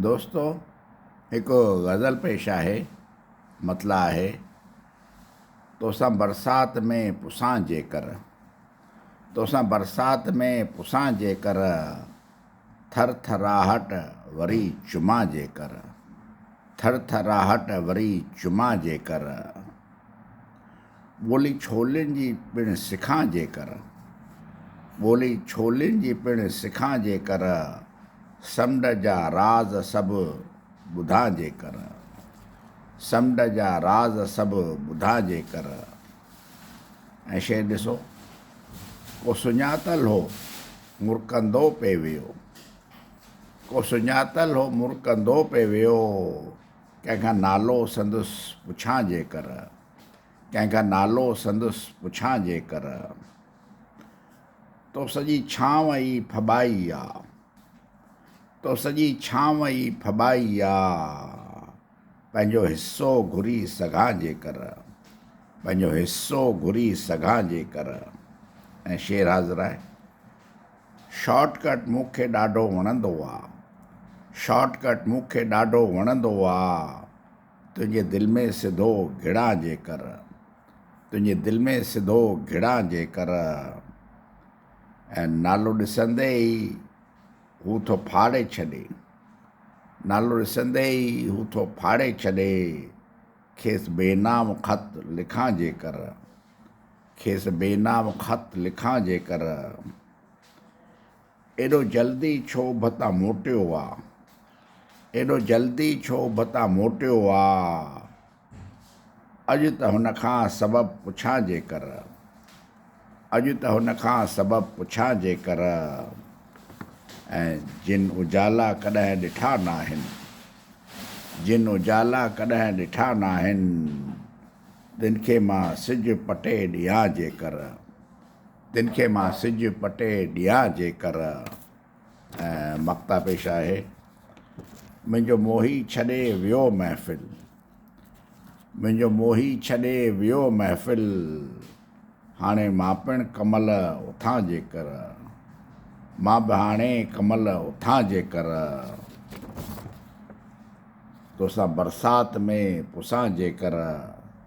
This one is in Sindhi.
دوستو هڪ غزل پيش آهي مطلع آهي توسان برسات ۾ پسان جيڪر توسان برسات ۾ پسان جيڪر ٿر ٿراهٽ وري چمان جيڪر ٿر ٿراهٽ وري چمان جيڪر ٻولي ڇولين جي پڻ سکان جيڪر، ٻولي ڇولين جي پڻ سکان جيڪر، سمنڊ جا راز سڀ ٻڌان جيڪر، سمنڊ جا راز سڀ ٻڌان جيڪر. ۽ شعر ڏسو، ڪو سڃاتل هو مرڪندو پئي ويو، ڪو سڃاتل هو مرڪندو پئي ويو، ڪنهن کان نالو سندس پڇان جيڪر. ڪنهن کان نالو سندس پڇان جيڪر، تو سڄي ڇانو ئي ڦٻائي آ، تو سڄي ڇانو ئي ڦٻائي آ، پنهنجو حصو گهري سگهان جيڪر، پنهنجو حصو گهري سگهان جيڪر. ۽ شعر حاضر آهي. شارٽ ڪٽ مون کي ڏاڍو وڻندو آ، شارٽ ڪٽ مون کي ڏاڍو وڻندو آ، تنهنجي دل ۾ سڌو گهڙان جيڪر تنهنجي دل ۾ سڌو گهڙان جيڪر ۽ نالو ڏسندي ئي هو ٿو ڦاڙي ڇڏي نالو ڏسندي ئي هو ٿو ڦاڙي ڇڏي کيس بي نام خط لکان جيڪر کيس بي نام خط لکان جيڪر ايڏو جلدي ڇو ڀتا موٽيو آ. ايڏو جلدي ڇو ڀتا موٽيو آ. اڄ ته هن کان سبب پڇان جيڪر. اڄ ته هن کان سبب پڇان جيڪر. ۽ جن اجالا ڪڏهن ڏٺا ناهن. جن اجالا ڪڏهن ڏٺا ناهن. تن کي مان سج پٽي ڏيان جيڪر. تن کي مان سج پٽي ڏيان جيڪر ۽ مقطع پيش آهي منهنجو موهي ڇڏي ويو محفل منهنجو موهي ڇڏي ويو محفل هاڻي مان پڻ ڪمل اٿان جيڪر مان به هاڻي ڪمل اٿان جيڪر توسان برسات ۾ پسان جيڪر